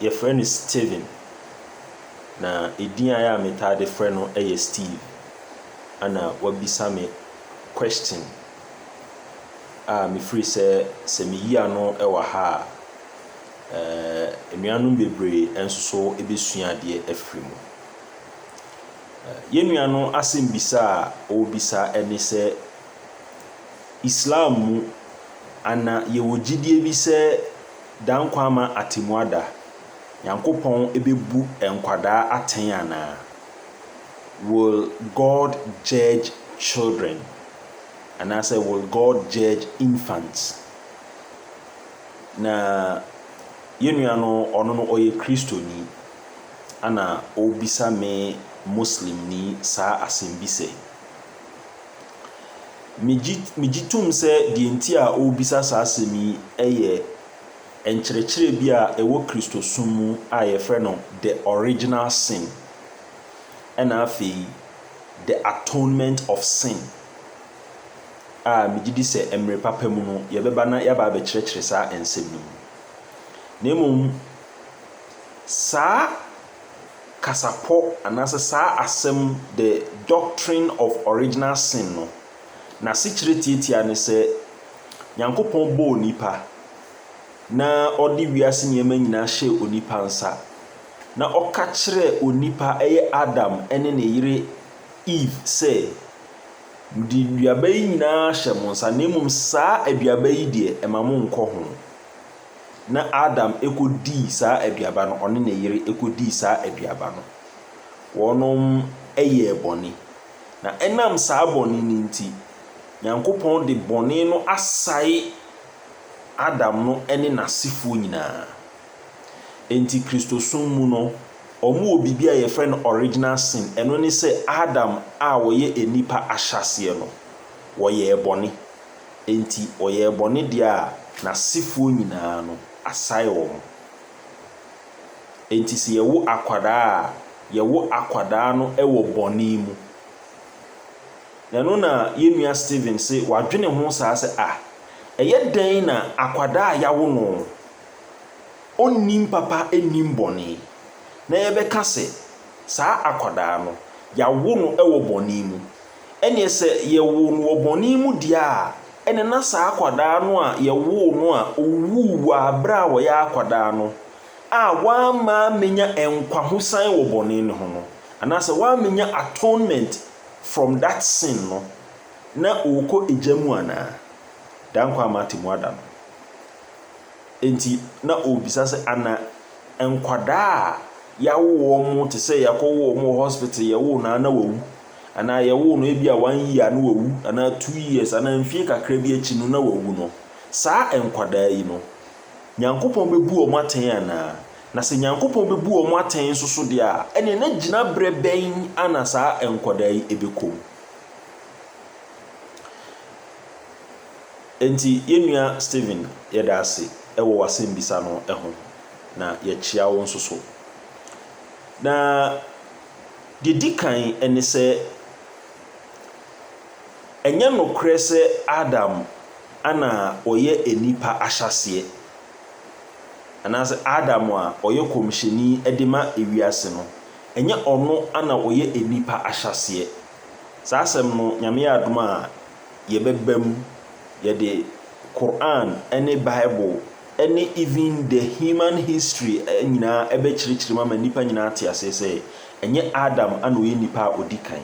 Yɛfrɛ no Steven, na edin a ɛyɛ a metaa de frɛ no yɛ Steve. Ana wabisa me question a mefiri sɛ, sɛ meyi ano wɔ ha a, eh, anuanom bebree nso so bɛsua adeɛ afiri mu. Yɛn nua no asɛmbisa a ɔrebisa ne sɛ, Islam mu, ana yɛwɔ gyidie bi sɛ Daa nkwa ama atemmuada? Nyankopɔn bɛbu nkwadaa atɛn anaa? Will God judge children? Anaasɛ Will God judge infants? Na yɛn nua no, ɔno no ɔyɛ Kristoni, ɛna ɔrebisa me Muslimni saa asɛmbisa yi. Migye migye tom sɛ deɛ nti a ɔrebisa saa asɛm yi yɛ nkyerɛkyerɛ bi a ɛwɔ Kristosom mu a wɔfrɛ no The Original Sin ɛna afei The Atonement of Sin a megye di sɛ mmerɛ papa mu no yɛbɛba na yɛaba abɛkyerɛkyerɛ saa nsɛm no mu. Na mmom saa kasapɔ anaasɛ saa asɛm The Doctrine of Original Sin no, n'asekyerɛ tiatia ne sɛ Nyankopɔn bɔɔ onipa na ɔde wiase nneɛma nyinaa hyɛɛ onipa nsa, na ɔka kyerɛɛ onipa, ɛyɛ Adam ne ne yere Eve, sɛ, Mede nnuaba yi nyinaa ahyɛ mo nsa, na mmom saa aduaba yi deɛ, mma monnkɔ ho. Na Adam kɔdii saa aduaba no, ɔne ne yere kɔdii saa aduaba no, wɔyɛɛ bɔne. Na ɛnam saa bɔne no nti, Nyankopɔn de bɔne no asae Adam no ne n'asefoɔ nyinaa. Enti Kristosom mu no, wɔwɔ biribi a yɛfrɛ no original sin, ɛno ne sɛ Adam a ɔyɛ nnipa ahyɛaseɛ no, wɔyɛɛ bɔne. Enti ɔyɛɛ bɔne deɛ a, n'asefoɔ nyinaa no, asae wɔn. Enti sɛ yɛwo akwadaa a, yɛwo akwadaa no wɔ bɔne mu. Na ɛno na yɛn nua Stephen se wadwene ho saa sɛ, ah, ɛyɛ dɛn na akwadaa a yɛawo no, ɔnnim papa nnim bɔne, na yɛbɛka sɛ saa akwadaa no, yɛawo no wɔ bɔne mu. Ɛnneɛ sɛ yɛwoo no wɔ bɔne mu deɛ a, ɛnneɛ na saa akwadaa no a yɛwoo no a ɔwuu wɔ berɛ a ɔyɛ akwadaa no a wamma ammɛnya nkwahosan wɔ bɔne no ho no, anaasɛ wammɛnya atonement from that sin no, na ɔrekɔ egya mu anaa? Dankwa ama atemmuada no. Enti na ɔrebisa sɛ, Ana nkwadaa a yɛawo wɔn te sɛ yɛakɔwo wɔn wɔ hospital, yɛwoo no a na wawu? Anaa yɛwoo no ebia one year a na wawu, anaa two years, anaa mfie kakra bi akyi no na wawu no, saa nkwadaa yi no, Nyankopɔn bɛbu wɔn atɛn anaa? Na sɛ Nyankopɔn bɛbu wɔn atɛn nso so deɛ a, ɛnneɛ na gyina berɛ bɛn a na saa nkwadaa yi bɛkɔ mu? Enti yɛn nua Stephen, yɛda ase wɔ w'asɛmbisa no ho, na yɛkyea wo nso so. Na deɛ ɛdi kan ne sɛ, ɛnyɛ nokorɛ sɛ Adam na ɔyɛ nnipa ahyɛaseɛ, anaasɛ Adam a ɔyɛ kɔmhyɛni de ma ewiase no, ɛnyɛ ɔno na ɔyɛ nnipa ahyɛaseɛ. Saa asɛm no, Nyame yɛ adom a, Yɛbɛba mu, yɛde Qur'aan ne Bible ne even the human history nyinaa bɛkyerɛkyerɛ mu ama nnipa nyinaa ate aseɛ sɛ ɛnyɛ Adam na ɔyɛ nipa a ɔdi kan.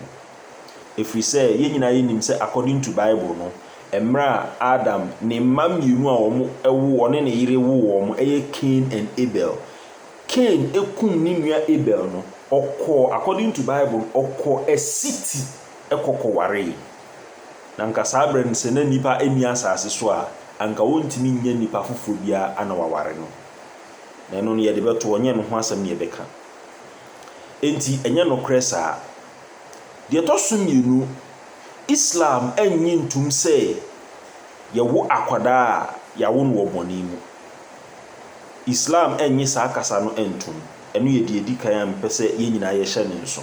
Ɛfiri sɛ yɛn nyinaa yɛnim sɛ according to Bible no, mmerɛ a Adam ne mma mmienu a wɔn wo ɔne ne yere wo wɔn ɛyɛ Cain and Abel. Cain kum ne nua Abel no, ɔkɔɔ, according to Bible no, ɔkɔɔ a city. kɔ kɔwaree. Na anka saa berɛ no, sɛ na nnipa nni asase so a, anka ɔntumi nnya nnipa foforɔ biara na waware no. Na ɛno no, yɛde bɛtoɔ, ɛnyɛ ɛno ho asɛm na yɛbɛka. Enti, ɛnyɛ nokorɛ saa. Deɛ ɛtɔ so mmienu, Islam nnye ntom sɛ yɛwo akwadaa a, yɛawo no wɔ bɔne mu. Islam nnye saa kasa no ntom. Ɛno yɛ deɛ ɛdi kan a mepɛ sɛ yɛn nyinaa yɛhyɛ no nso.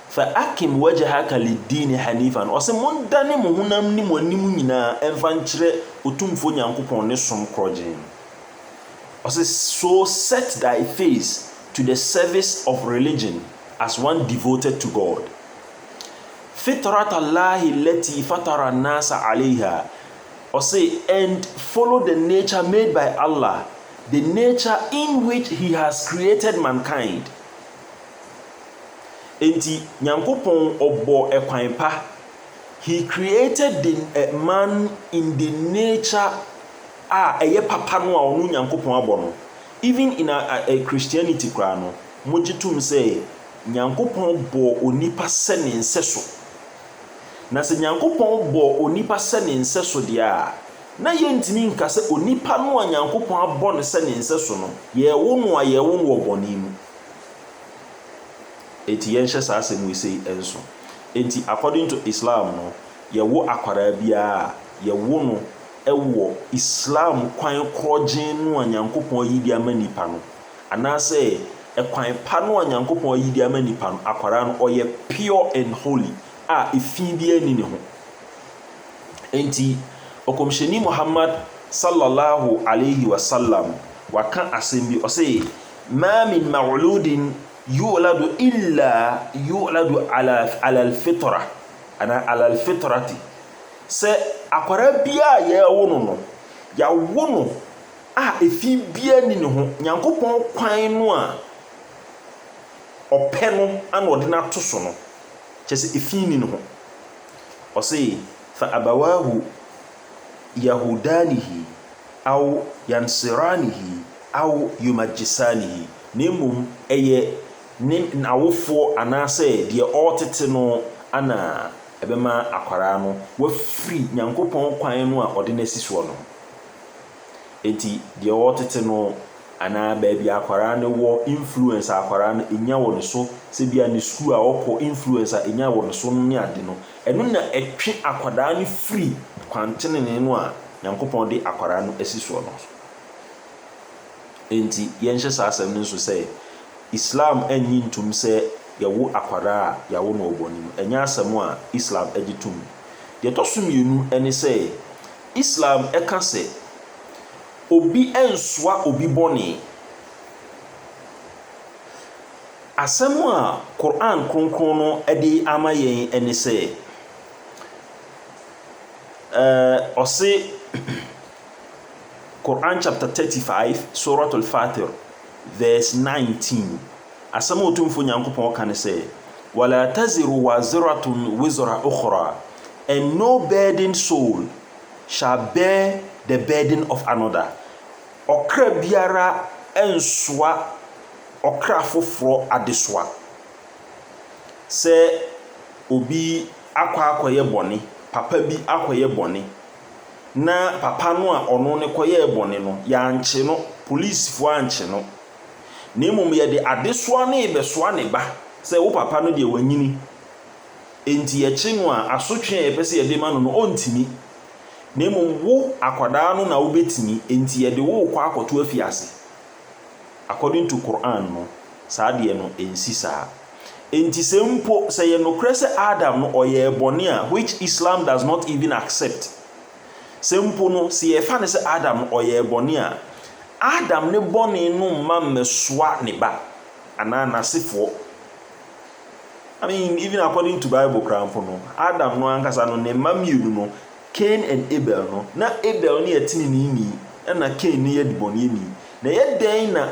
Fa akim wajahaka liddiini hanifa no, ɔse, Mondane mo honam ne mo anim nyinaa mfa nkyerɛ Otumfoɔ Nyankopɔn ne som korɔgyee no. Ɔse, So set thy face to the service of religion as one devoted to God. Fitrat Allahi allati fatara an-nasa alayha, ɔse, And follow the nature made by Allah, the nature in which He has created mankind. Enti Nyankopɔn ɔbɔɔ kwan pa, He created the man in the nature a ɛyɛ papa no a ɔno Nyankopɔn abɔ no. Even in Christianity koraa no, wɔgye tom sɛ Nyankopɔn bɔɔ onipa sɛ ne nsɛso. Na sɛ Nyankopɔn bɔɔ onipa sɛ ne nsɛso deɛ a, na yɛntumi nka sɛ onipa no a Nyankopɔn abɔ no sɛ ne nsɛso no, yɛwo no a yɛwo no wɔ bɔne mu. Enti yɛnhyɛ saa asɛm wei sei nso. Enti according to Islam no, yɛwo akwadaa biara a, yɛwo no wɔ Islam kwan korɔgyenn no a Nyankopɔn ayi de ama nnipa no. Anaasɛ ɛkwan pa no a Nyankopɔn ayi de ama nnipa no, akwadaa no ɔyɛ pure and holy a efi biara nni ne ho. Enti Ɔkɔmhyɛni Muhammad Sallallahu Alaihi Wasallam waka asɛm bi, ɔse, Ma min mawuludin yu'uladu illa yu'uladu ala alalfitorah anaa alalfitorati, sɛ akwadaa biara a yɛrewo no no, yɛawo no a efi biara nni ne ho, Nyankopɔn kwan no a Ɔpɛ no na Ɔde no ato so no, kyerɛ sɛ efi nni ne ho. Ɔse, fa abawaahu. Yahudanihi aw Yansiranihi aw Yumajisanihi, na mmom ɛyɛ ne n'awofoɔ anaasɛ deɛ ɔretete no na ɛbɛma akwadaa no wafiri Nyankopɔn kwan no a ɔde no asi soɔ no ho. Enti deɛ ɔretete no anaa baabi a akwadaa no wɔ, influence a akwadaa no nya wɔ ne so, sɛ ebia ne sukuu a ɔkɔ, influence a ɛnya wɔ ne so no ne ade no, Ɛno na ɛtwe akwadaa no firi kwan tenenee no a Nyankopɔn de akwadaa no asi soɔ no so. Enti yɛnhyɛ saa asɛm no nso sɛ, Islam nnye ntom sɛ yɛwo akwadaa a yɛawo no wɔ bɔne mu. Ɛnyɛ asɛm a Islam gye tom. Deɛ ɛtɔ so mmienu ne sɛ, Islam ka sɛ obi nsoa obi bɔne. Asɛm a Qur'aan Kronkron no de ama yɛn ne sɛ, ɛɛ, ɔse, Qur'aan chapter 35 Surat Al-Fatir verse 19, asɛm a Otumfoɔ Nyankopɔn ka ne sɛ, Wala taziru waziratun wizra ukhra, and no burdened soul shall bear the burden of another, ɔkra biara nsoa ɔkra foforɔ adesoa. Sɛ obi akɔ akɔyɛ bɔne, papa bi akɔyɛ bɔne, na papa no a ɔno no kɔyɛɛ bɔne no, yɛankye no, polisifoɔ ankye no, na mmom yɛde adesoa no rebɛsoa ne ba sɛ wo papa no deɛ wanyini, enti yɛkye no a, asotwe a yɛpɛ sɛ yɛde ma no no, ɔntumi. Na mmom wo akwadaa no na wobɛtumi, enti yɛde wo rekɔ akɔto afiase. According to Qur'an no, saa deɛ no ɛnsi saa. Enti sɛ mpo sɛ ɛyɛ nokorɛ sɛ Adam no ɔyɛɛ bɔne a, which Islam does not even accept, sɛ mpo no sɛ yɛfa no sɛ Adam no ɔyɛɛ bɔne a, Adam ne bɔne no mma mmɛsoa ne ba anaa n'asefoɔ. I mean even according to Bible koraa mpo no, Adam no ankasa no ne mma mmienu no, Cain and Abel no, na Abel no yɛ teneneeni, ɛnna Cain no yɛ debɔneyɛni. Na ɛyɛ dɛn na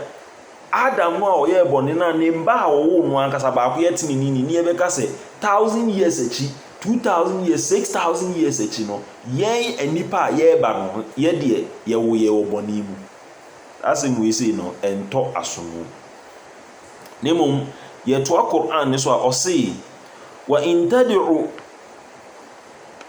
Adam no a ɔyɛɛ bɔne no a ne mma a ɔwoo no ankasa baako yɛ teneneeni ne yɛbɛka sɛ thousand years akyi, two thousand years, six thousand years akyi no, yɛn nnipa a yɛreba no, yɛ deɛ yɛwo yɛn wɔ bɔne mu? Saa asɛm wei sei no, ɛntɔ asom o. Na mmom, yɛtoa Qur'aan no so a, ɔse, Wa in tad'u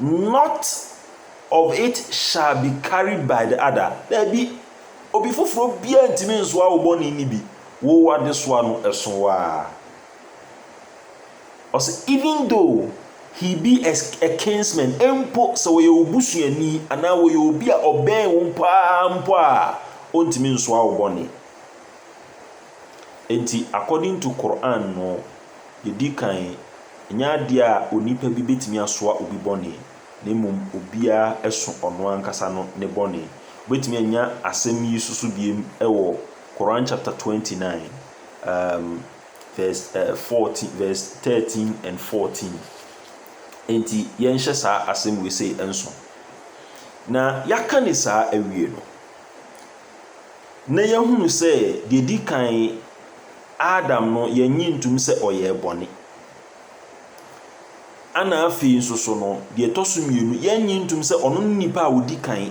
Not of it shall be carried by the other, Daabi, obi foforɔ biara ntumi nsoa wo bɔne no bi, wo w'adesoa no ɛso wo ara. Ɔsɛ even though he be a, a kinsman, mpo sɛ wɔyɛ wo busuani anaa wɔyɛ obi a ɔbɛn wo paa mpo a, ɔntumi nsoa wo bɔne. Enti according to Qur'aan no, yɛdi kan, ɛnyɛ adeɛ a onipa bi bɛtumi asoa obi bɔne, na mmom obiara ɛso ɔno ankasa no ne bɔne. Wobɛtumi anya asɛm yi soso biem ɛwɔ Qur'aan chapter twenty nine um verse eh fourteen verse thirteen and fourteen. Enti yɛnhyɛ saa asɛm wei sei nso. Na yɛaka no saa awie no, na yɛahunu sɛ deɛ ɛdi kan Adam no yɛnnye ntom sɛ ɔyɛɛ bɔne. Ɛna afei nso so no, deɛ ɛtɔ so mmienu, yɛnnye ntom sɛ ɔno ne nipa a ɔdi kan.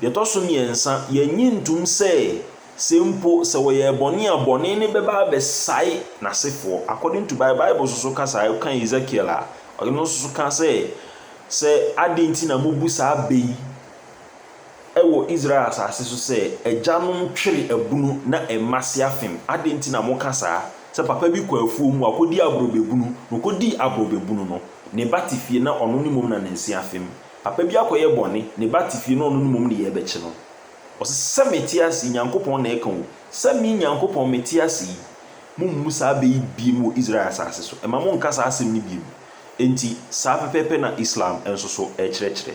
Deɛ ɛtɔ so mmiɛnsa, yɛnnye ntom sɛ sɛ mpo sɛ wɔyɛɛ bɔne a, bɔne no bɛba abɛsae n'asefoɔ. According to Bible, Bible nso so ka saa, wokan Ezekiel a, ɔno nso so ka sɛ, sɛ adɛn nti na mobu saa bɛ yi, wɔ Israel asase so sɛ, 'Agyanom twere abunu na mma se afem. Adɛn nti na moka saa? Sɛ papa bi kɔ afuom a, ɔkɔdi aborɔbɛbunu, na ɔkɔdii aborɔbɛbunu no, ne ba te fie na ɔno ne mmom na ne nse afem. Papa bi akɔyɛ bɔne, ne ba te fie na ɔno ne mmom ne yɛn bɛkye no. Ɔse, 'Sɛ mete ase yi, Nyankopɔn na ɛka o, sɛ me, Nyankopɔn, mete ase yi, mommu saa bɛ yi bio wɔ Israel asase so. Mma monnka saa asɛm no bio. Enti, saa pɛpɛɛpɛ na Islam nso so kyerɛkyerɛ.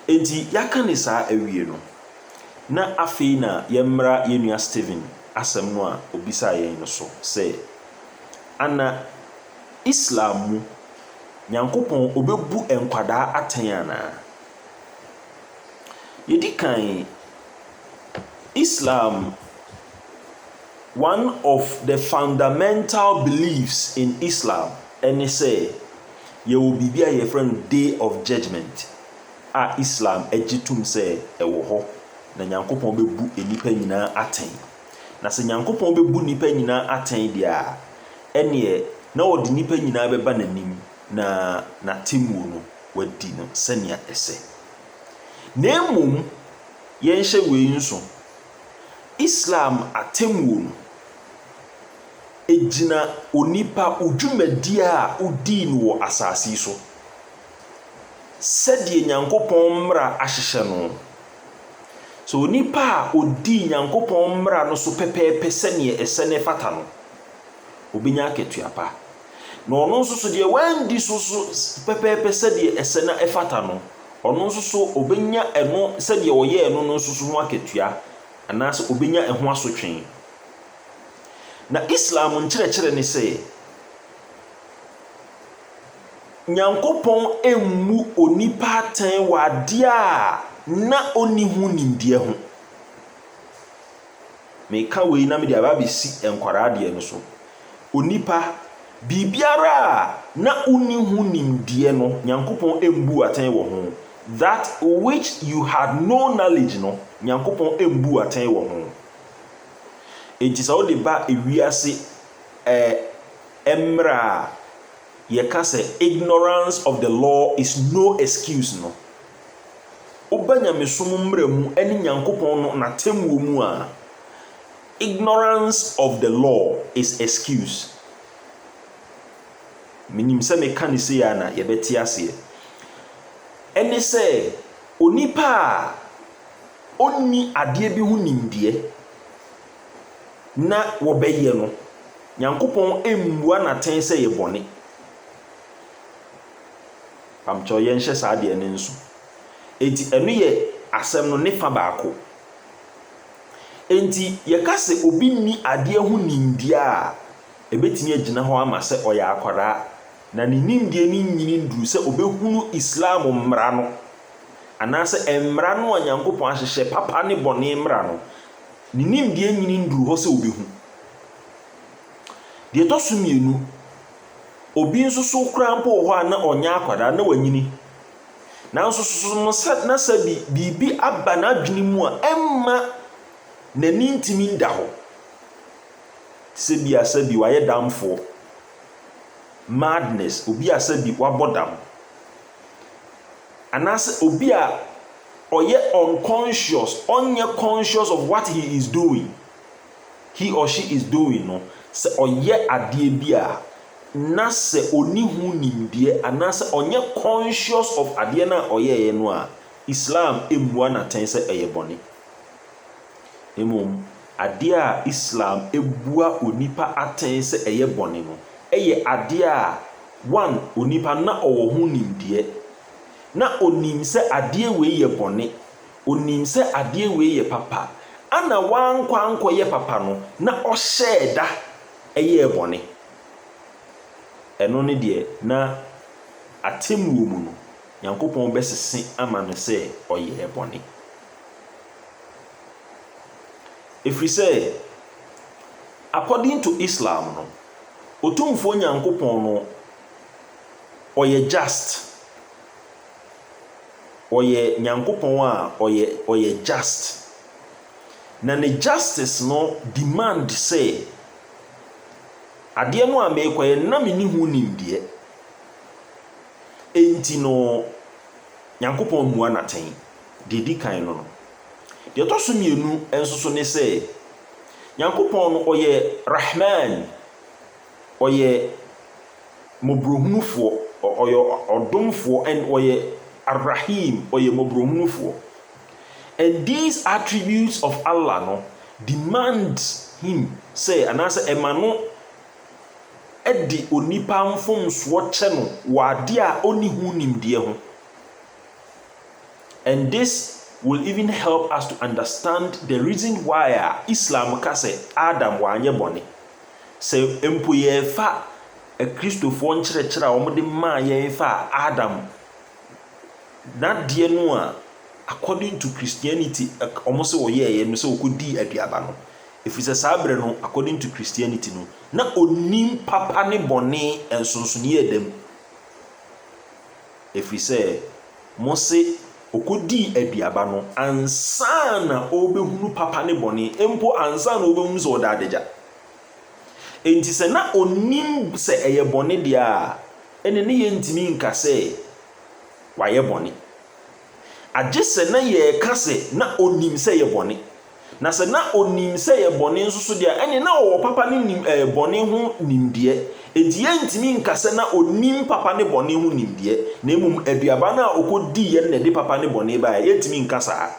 Enti yɛaka ne saa awie no, na afei na yɛmmra yɛn nua Stephen asɛm no a ɔbisaa yɛn no so sɛ, Ana Islam mu Nyankopɔn ɔbɛbu nkwadaa atɛn anaa? Yɛdi kan, Islam one of the fundamental beliefs in Islam ne sɛ, Yɛwɔ biribi a yɛfrɛ no Day of Judgement a Islam gye tom sɛ ɛwɔ hɔ, na Nyankopɔn bɛbu nnipa nyinaa atɛn. Na sɛ Nyankopɔn bɛbu nnipa nyinaa atɛn deɛ a, ɛneɛ na ɔde nnipa nyinaa bɛba N'anim na N'atemmuo no wadi no sɛnea ɛsɛ. Na mmom yɛnhyɛ wei nso, Islam atemmuo no, gyina onipa, wo dwumadi a wodii no wɔ asase yi so. Sɛdeɛ Nyankopɔn mmara ahyehyɛ no, sɛ onipa a ɔdii Nyankopɔn mmara no so pɛpɛɛpɛ sɛdeɛ ɛsɛ na ɛfata no, ɔbɛnya akatua pa. Na ɔno nso so deɛ wanndi so so pɛpɛɛpɛ sɛdeɛ ɛsɛ na ɛfata no, ɔno nso so ɔbɛnya ɛno sɛdeɛ ɔyɛɛ no no nso so ho akatua, anaasɛ ɔbɛnya ɛho asotwee. Na Islam nkyerɛkyerɛ ne sɛ, Nyankopɔn mmu onipa atɛn wɔ adeɛ a na ɔnni ho nimdeɛ ho. Meka wei na mede aba abɛsi nkwadaa deɛ no so. Onipa, biribiara a na wonni ho nimdeɛ no, Nyankopɔn mbu wo atɛn wɔ ho. That which you had no knowledge no, Nyankopɔn mbu wo atɛn wɔ ho. Enti sɛ wode ba wiase ɛɛ mmara a yɛka sɛ ignorance of the law is no excuse no, woba nyamesom mmara mu ne Nyankopɔn no n'atemmuo mu a, ignorance of the law is excuse. Menim sɛ meka no sei a na yɛbɛte aseɛ. Ɛne sɛ onipa a. ɔnni adeɛ bi ho nimdeɛ na wɔbɛyɛ no, Nyankopɔn mmua no atɛn sɛ ɛyɛ bɔne. Mpabokyɛw, yɛnhyɛ saa adeɛ no nso. Enti ɛno yɛ asɛm no ne fa baako. Enti yɛka sɛ obi nni adeɛ ho nimdeɛ a, ɛbɛtumi agyina hɔ ama sɛ ɔyɛ akwadaa, na ne nimdeɛ no nnyini nnuru sɛ ɔbɛhunu Islam mmara no. anaasɛ mmara no a Nyankopɔn ahyehyɛ, papa ne bɔne mmara no, ne nimdeɛ nyini nnuru hɔ sɛ obehu. Deɛ ɛtɔ so mmienu, obi nso so koraa mpo wɔ hɔ a na ɔnyɛ akwadaa, na wanyini. Nanso susu no sɛ na sɛ bi, biribi aba n'adwene mu a ɛmma n'ani ntumi nda hɔ. Te sɛ bi a sɛ bi wayɛ damfoɔ, madness, obi a sɛ bi wabɔ dam. anaasɛ obi a ɔyɛ unconscious, ɔnyɛ conscious of what he is doing, he or she is doing no, sɛ ɔyɛ adeɛ bi a na sɛ ɔni ho nimdeɛ anaasɛ ɔnyɛ conscious of adeɛ no a ɔyɛeɛ no a, Islam mmua no atɛn sɛ ɛyɛ bɔne. Mmom, adeɛ a Islam bua onipa atɛn sɛ ɛyɛ bɔne no yɛ adeɛ a, one, onipa no na ɔwɔ ho nimdeɛ, na ɔnim sɛ adeɛ wei yɛ bɔne, ɔnim sɛ adeɛ wei yɛ papa, ɛna wankɔ ankɔyɛ papa no na ɔhyɛɛ da yɛɛ bɔne. Ɛno ne deɛ na atemmuo mu no, Nyankopɔn bɛsese ama no sɛ ɔyɛɛ bɔne. Ɛfiri sɛ, according to Islam no, Otumfoɔ Nyankopɔn no ɔyɛ just. Ɔyɛ Nyankopɔn a ɔyɛ ɔyɛ just. Na ne justice no demand sɛ, adeɛ no a merekɔyɛ no, na menni ho nimdeɛ. Enti no, Nyankopɔn mmua no atɛn. Deɛ ɛdi kan no no. Deɛ ɛtɔ so mmienu nso so ne sɛ, Nyankopɔn no ɔyɛ Rahmaan, ɔyɛ Mmɔborɔhunufoɔ, ɔyɛ Ɔdomfoɔ, and ɔyɛ Ar-Rahiim, ɔyɛ Mmɔborɔhunufoɔ. And these attributes of Allah no demand Him sɛ, anaasɛ ɛma no de onipa mfomsoɔ kyɛ no wɔ adeɛ a ɔnni ho nimdeɛ ho. And this will even help us to understand the reason why a Islam ka sɛ Adam wanyɛ bɔne. Sɛ mpo yɛrefa Akristofoɔ nkyerɛkyerɛ a wɔde maa yɛn faa Adam n'adeɛ no a according to Christianity wɔn sɛ ɔyɛeɛ no sɛ ɔkɔdii aduaba no, ɛfiri sɛ saa berɛ no according to Christianity no na ɔnim papa ne bɔne nsonsonoeɛ da mu. Ɛfiri sɛ mose, Ɔkɔdii aduaba no ansa na ɔrebɛhunu papa ne bɔne, mpo ansa na ɔrebɛhunu sɛ ɔda adagya. Enti sɛ na ɔnim sɛ ɛyɛ bɔne deɛ a, ɛnneɛ na yɛrentumi nka sɛ wayɛ bɔne, agye sɛ na yɛreka sɛ na ɔnim sɛ ɛyɛ bɔne. Na sɛ na onim sɛ ɛyɛ bɔne nso so deɛ a, ɛnneɛ na ɔwɔ papa ne nim ɛɛ bɔne ho nimdeɛ. Enti yɛntumi nka sɛ na onim papa ne bɔne ho nimdeɛ, na mmom aduaba no a ɔkɔdiiɛ no na ɛde papa ne bɔne baeɛ. Yɛntumi nka saa.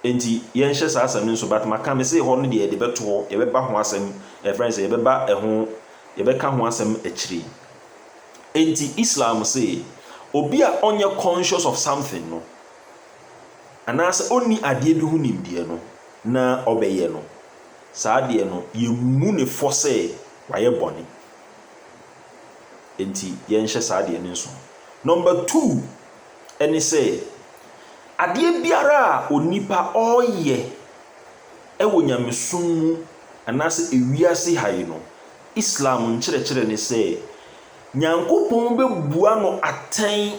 Enti yɛnhyɛ saa asɛm no nso, but maka me se hɔ no deɛ yɛde bɛto hɔ, yɛbɛba ho asɛm, ɛfrɛ no sɛ yɛbɛba ɛho, yɛbɛka ho asɛm akyire yi. Enti Islam se, obi a ɔnyɛ conscious of something no, anaa sɛ ɔnni adeɛ bi ho nimdeɛ no na ɔbɛyɛ no, saa adeɛ no yɛmmu no fɔ sɛ wayɛ bɔne. Enti yɛnhyɛ saa adeɛ no nsono. Number two ɛne sɛ, adeɛ biara a onipa ɔreyɛ ɛwɔ nyamesom mu anaa sɛ ewiase ha yi no, Islam nkyerɛkyerɛ ne sɛ, Nyankopɔn bɛbua no atɛn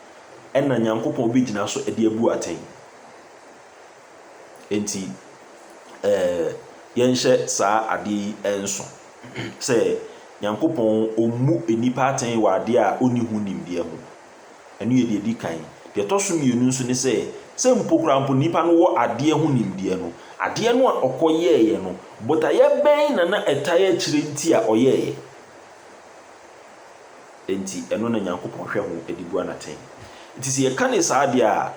na Nyankopɔn bɛgyina so de abu atɛn. Enti, ɛɛ, yɛnhyɛ saa adeɛ yi nso sɛ Nyankopɔn ɔmmu nnipa atɛn wɔ adeɛ a ɔnni ho nimdeɛ ho. Ɛno yɛ deɛ ɛdi kan. Deɛ ɛtɔ so mmienu nso ne sɛ, sɛ mpo koraa mpo nnipa no wɔ adeɛ ho nimdeɛ no, adeɛ no a ɔkɔyɛeɛ no, botaeɛ bɛn na na ɛtaeɛ kyerɛ nti a ɔyɛeɛ? Enti ɛno na Nyankopɔn hwɛ ho de bu anatɛn. Enti sɛ yɛka no saa deɛ a,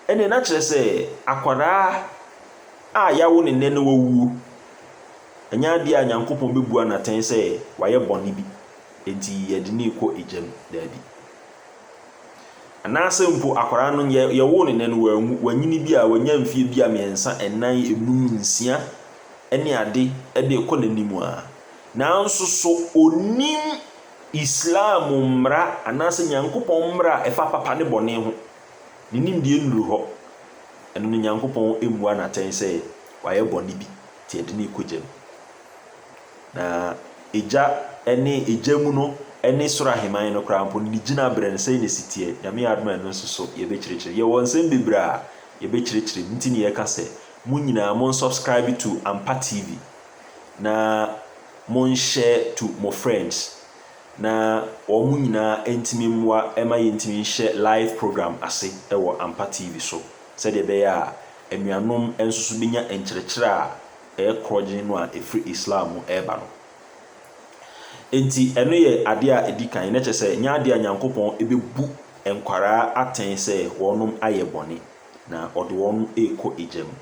ɛnneɛ na kyerɛ sɛ akwadaa a yɛawo no nnɛ na wawuo. Ɛnyɛ adeɛ a Nyankopɔn bɛbu anatɛn sɛ wayɛ bɔne bi enti yɛde no rekɔ egya mu. Daabi. Anaasɛ mpo akwadaa no yɛ, yɛwoo no nnɛ no wanwu, wanyini bi a wanya mfeɛ bi a mmiɛnsa, nnan, enum, nsia ne ade de rekɔ n'anim a, nanso so ɔnim Islam mmara anaasɛ Nyankopɔn mmara a ɛfa papa ne bɔne ho, ne nimdeɛ nnuru hɔ. Ɛno no Nyankopɔn mmua no atɛn sɛ wayɛ bɔne bi nti ɛde no rekɔ gya mu. Na egya ne egya mu no ne Soro Aheman no koraa mpo no ne gyinabrɛ no sɛn na ɛsi teɛ? Nyame adom a ɛno nso so yɛbɛkyerɛkyerɛ. Yɛwɔ nsɛm bebree a yɛbɛkyerɛkyerɛ mu nti ne yɛka sɛ mo nyinaa monsubscribe to Ampa TV. na monhyɛ to mo friends na wɔn mo nyinaa ntumi mmoa ma yɛntumi nhyɛ live program ase wɔ Ampa TV so sɛdeɛ ɛbɛyɛ a anuanom nso so bɛnya nkyerɛkyerɛ a ɛyɛ korɔgyenn no a ɛfiri Islam mu ɛreba no. Enti ɛno yɛ adeɛ a ɛdi kan na kyerɛ sɛ nyɛ adeɛ a Nyankopɔn bɛbu nkwaraa atɛn sɛ wɔnom ayɛ bɔne na ɔde wɔn ɛrekɔ egya mu.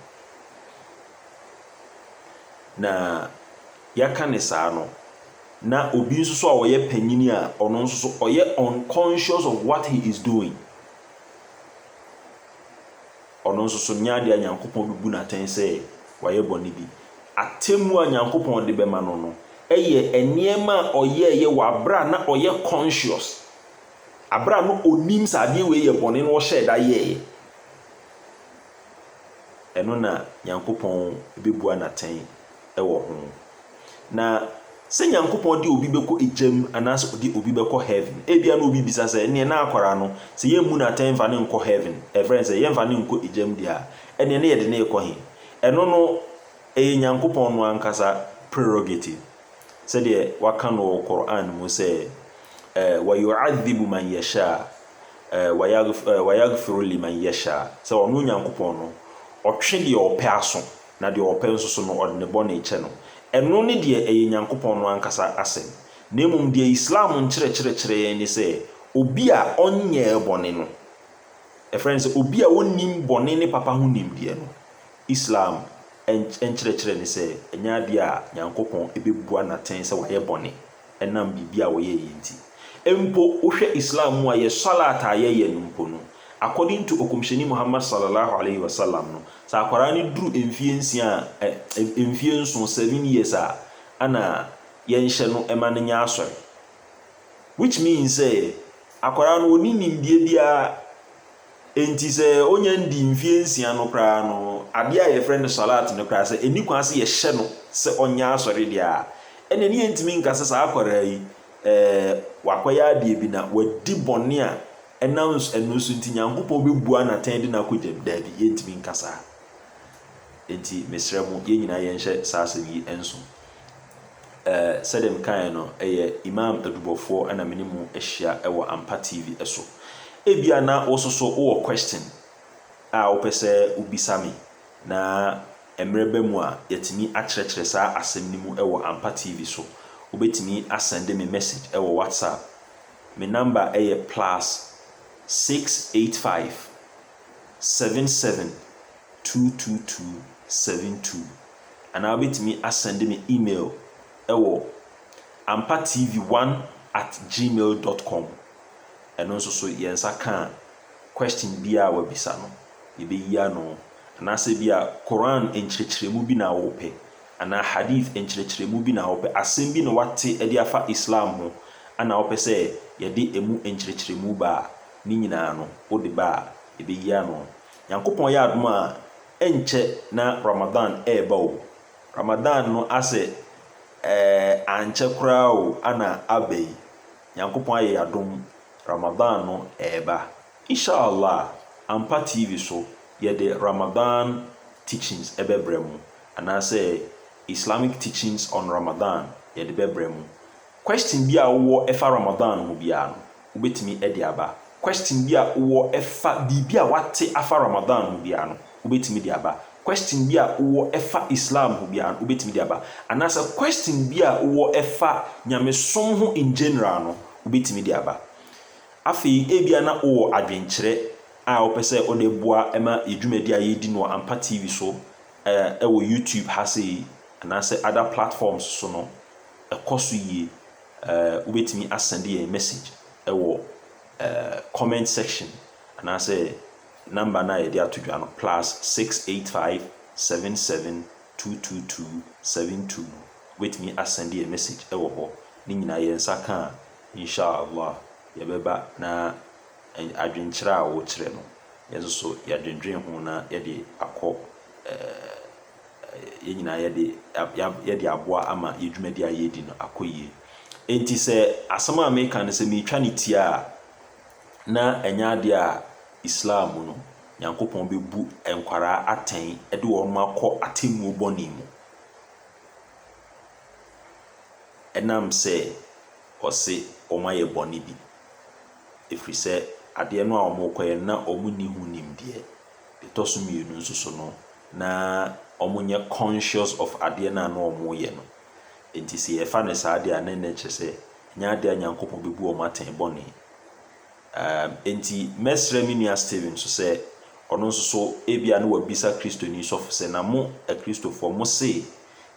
Na yɛaka no saa no, na obi nso so a ɔyɛ panyin a ɔno nso so ɔyɛ unconscious of what he is doing. Ɔno nso so nyɛ ade a Nyankopɔn bebu no atɛn sɛ wayɛ bɔne bi. Atemmu a Nyankopɔn de bɛma no no yɛ nneɛma a ɔyɛeɛ wɔ abere a na ɔyɛ conscious, abere a na onim sɛ adeɛ wei yɛ bɔne na ɔhyɛɛ da yɛeɛ. ɛno na Nyankopɔn bɛbua no atɛn wɔ ho. Na sɛ Nyankopɔn de obi bɛkɔ egya mu anaasɛ ɔde obi bɛkɔ heaven, ebia na obi bisa sɛ, ɛnneɛ na akwaraa no, sɛ yɛmmu no atɛn mfa no nkɔ heaven, ɛfrɛ no sɛ yɛmfa no nkɔ egya mu deɛ a, ɛnneɛ na yɛde no rekɔ he? Ɛno no, ɛyɛ Nyankopɔn no ankasa prerogative. sɛdeɛ wɔaka no wɔ Qur'aan mu sɛ, ɛɛ wa yu'adhibu man yashaa, ɛɛ wa ya ɛɛ wa yaghfiru liman yashaa, sɛ ɔno Nyankopɔn no Ɔtwe deɛ Ɔpɛ aso, na deɛ Ɔpɛ nso so no Ɔde ne bɔne kyɛ no. Ɛno ne deɛ ɛyɛ Nyankopɔn no ankasa asɛm. Na mmom deɛ Islam nkyerɛkyerɛ kyerɛ yɛn ne sɛ, obi a ɔnyɛɛ bɔne no, yɛfrɛ no sɛ obi a ɔnnim bɔne ne papa ho nimdeɛ no, Islam nkyerɛkyerɛ ne sɛ ɛnyɛ adeɛ a Nyankopɔn bɛbua no atɛn sɛ wayɛ bɔne ɛnam biribi a ɔyɛeɛ nti. Mpo wohwɛ Islam mu a yɛ swalaat a yɛyɛ no mpo no, according to Ɔkɔmhyɛni Muhammad Sallallahu Alaihi Wasallam no, sɛ akwadaa no duru mfeɛ nsia a eh, mfeɛ nson, seven years a, ɛna yɛnhyɛ no ma no nyɛ asɔre. Which means sɛ akwadaa no ɔnni nimdeɛ biara Enti sɛ onya nnii mfeɛ nsia no koraa no, adeɛ a yɛfrɛ no Swalaat no koraa, sɛ ɛnni kwan sɛ yɛhyɛ no sɛ ɔnyɛ asɔre deɛ a, ɛneɛ ne yɛntumi nka sɛ saa akwadaa yi, ɛɛ, wakɔyɛ adeɛ bi na wadi bɔne a ɛnam ɛno so nti Nyankopɔn bɛbua no atɛn de no akɔ gya mu. Daabi, yɛntumi nka saa. Enti mesrɛ mo, yɛn nyinaa yɛnhyɛ saa asɛm yi nso. Eh, sɛdeɛ mekaeɛ no, ɛyɛ Imam Adubɔfoɔ na me ne mo ahyia wɔ Ampa TV so. Ebia na wo nso so wowɔ question a wopɛ sɛ wobisa me, na mmerɛ ba mu a yɛatumi akyerɛkyerɛ saa asɛm no mu wɔ Ampa TV so. Wobɛtumi asɛnde me message wɔ WhatsApp. Me number yɛ plus six eight five seven seven two two two seven two. Anaa wobɛtumi asɛnde me email wɔ ampatv one at gmail dot com. Ɛno nso so yɛn nsa ka a, question biara a wabisa no, yɛbɛyi ano. Anaasɛ ebia Qur'aan nkyerɛkyerɛmu bi na wopɛ, anaa Hadiith nkyerɛkyerɛmu bi na wopɛ, asɛm bi na woate de afa Islam ho na wopɛ sɛ yɛde ɛmu nkyerɛkyerɛmu ba a, ne nyinaa no, wode ba a, yɛbɛyi ano. Nyankopɔn yɛ adom a, ɛnkyɛ na Ramadan reba o, Ramadan no asɛ ɛɛ ankyɛ koraa o ana aba yi, Nyankopɔn ayɛ yɛ adom Ramadan no reba Insha'Allah Ampa TV so yɛde Ramadan teachings ɛbɛbrɛ mo anaasɛ Islamic teachings on Ramadan yɛde bɛbrɛ mo, question bi a wowɔ ɛfa Ramadan ho biara no, wobɛtumi de aba. Question bi a wowɔ ɛfa biribi a woate afa Ramadan ho biara no, wobɛtumi de aba. Question bi a wowɔ ɛfa Islam ho biara no, wobɛtumi de aba. Anaasɛ question bi a wowɔ ɛfa Nyamesom ho in general no, wobɛtumi de aba. Afei, ebia na wowɔ adwenkyerɛ a wopɛ sɛ wode boa ma yɛn dwumadi a yɛredi no wɔ Ampa TV so, ɛwɔ YouTube ha sei, anaasɛ other platforms so no, ɛkɔ so yie. Eh, wobɛtumi asɛnde yɛn message wɔ eh, comment section anaasɛ number no a yɛde ato dwa no plus 685 77 222 72 no wobɛtumi asɛnde yɛn message wɔ hɔ ne nyinaa yɛn nsa ka a inshallah yɛbɛba na eh, adwenkyerɛ a wokyerɛ no yɛn nso so yɛadwendwen ho na yɛde akɔ eh, yɛn nyinaa yɛde yɛde aboa ama yɛn dwumadi a yɛredi no akɔ yie. Enti sɛ asɛm a meka no sɛ meretwa no tia a, na ɛnyɛ adeɛ a Islam mu no, Nyankopɔn bɛbu nkwadaa atɛn de wɔn akɔ atemmuo bɔne mu. Ɛnam sɛ ɔse wɔayɛ bɔne bi. Ɛfiri sɛ adeɛ no a wɔrekɔyɛ no na wɔnni ho nimdeɛ. ɛtɔ so mmienu nso so no, na wɔnyɛ conscious of adeɛ no a na wɔreyɛ no. Enti sɛ yɛfa no saa deɛ a, na ɛno kyerɛ sɛ ɛnyɛ adeɛ a Nyankopɔn bɛbu wɔn atɛn bɔne. Um, enti mɛsrɛ me nua Steven nso sɛ ɔno nso so ebia na wabisa Kristoni sɔfo sɛ, na mo Akristofoɔ mo se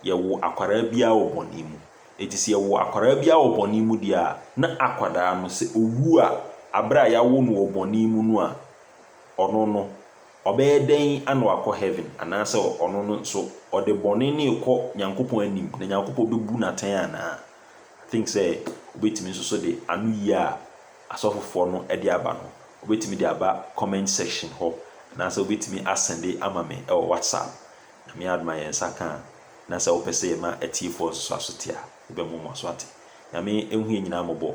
yɛwo akwadaa biara wɔ bɔne mu. Enti sɛ yɛwo akwadaa biara wɔ bɔne mu deɛ a, na akwadaa no sɛ owu a, abere a yɛawo no wɔ bɔne mu no a, Ɔno no, ɔbɛyɛ dɛn ana wakɔ heaven? Anaasɛ ɔno no nso, ɔde bɔne no rekɔ Nyankopɔn anim, na Nyankopɔn bɛbu no atɛn anaa? I think sɛ wobɛtumi nso so de anoyie a asɔfofoɔ no de aba no, wobɛtumi de aba comment section hɔ, anaasɛ wobɛtumi asɛnde ama me wɔ WhatsApp. Nyame adom a yɛn nsa ka a, na sɛ wopɛ sɛ yɛma atiefoɔ nso so aso te a, yɛbɛmoamoa so ate. Nyame nhu yɛn nyinaa mmɔbɔ.